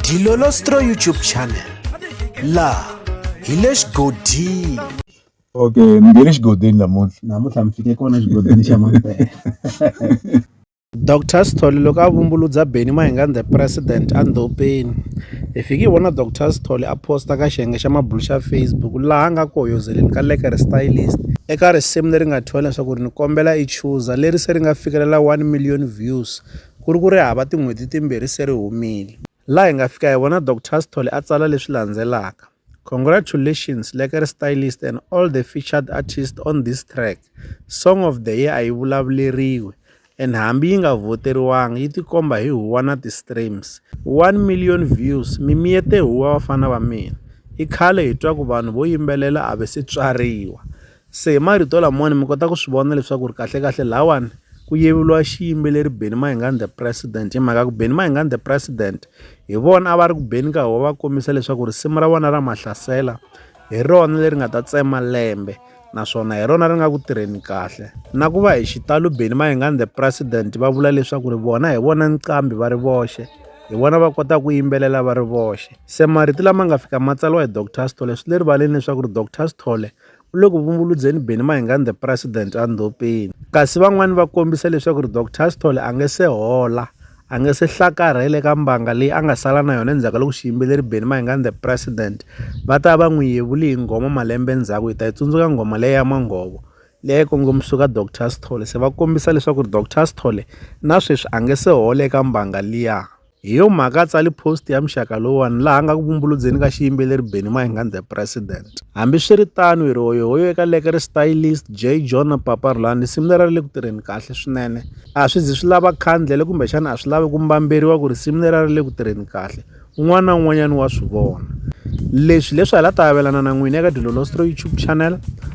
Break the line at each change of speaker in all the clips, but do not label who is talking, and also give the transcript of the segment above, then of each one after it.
Dilolostro YouTube channel laha hi le xigodini okay
mi nge le xigodini namuntlha namuntlha mi fike kona xigodini xa mampela dr
sithole loko a vumbuludza beni mahingani the president andhopeni hi fike hi vona dr sithole a posta ka xiyenge xa mabulu xa facebook laha a nga ku hoyozeleni ka lekere stylist eka risimu leri nga thyiwa leswaku ri ni kombela i chuza leri se ri nga fikelela 1 million views Ku ri ku ri hava tin'hweti timbirhi se ri humile. Laha hi nga fika hi vona Doctor Sithole a tsala leswi landzelaka, Congratulations Lekere Stylist and all the featured artists on this track, Song of the Year a yi vulavuleriwi and hambi yi nga vhoteriwanga yi tikomba hi huwa na ti streams. One million views mi miyete huwa vafana va mina. I khale hi twa ku vanhu vo yimbelela a va se tswariwa. Se hi marito lamawani mi kota ku swi vona leswaku ri kahlekahle lawani ku yevuriwa xiyimbeleri Benny Mayengani the president hi mhaka ku Benny Mayengani the president hi vona a va ri ku beni ka ho va kombisa leswaku risimu ra vona ra mahlasela hi rona leri nga ta tsema lembe naswona hi rona ri nga ku tirheni kahle na ku va hi xitalo Benny Mayengani the president va vula leswaku ri vona hi vona nqambi va ri voxe hi vona va kota ku yimbelela va ri voxe se marito lama nga fika matsalwa hi Doctor Sithole swi le rivaleni leswaku ri Doctor Sithole u le ku vumbuludzeni Benny Mayengani the president endhopeni kasi van'wani va kombisa leswaku ri Dr Sithole a nge se hola a nge se hlakarhele ka mbanga leyi a nga sala na yona endzhaku ka loko xiyimbeleri Benny Mayengani the president va ta va n'wi yevuli hi nghoma malembe ndzhaku hi ta yi tsundzuka nghoma leyi ya manghovo leyi kongomisiwaka Dr Sithole se va kombisa leswaku ri Dr Sithole na sweswi a nge se hola eka mbanga liya Hi yo mhaka a tsali post ya muxaka lowuwani laha nga ku vumbuludzeni ka xiyimbeleri Benny Mahingani the President. Hambiswiritano hi ri hoyohoyo eka leke ri stylist J John na Papa Rhulani risimu lera ri le ku tirheni kahle swinene. A swi zi swi lava khandlele kumbexana a swi lavi ku mbamberiwa ku risimu lera ri le ku tirheni kahle un'wana na un'wanyana wa swi vona. Leswi leswi hala ta avelana na n'wina eka Dilolostro YouTube channel.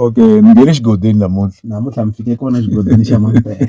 Okay, ni nge le xigodini namuntlha. Namuntlha mi fike kona xigodini xa Mampela.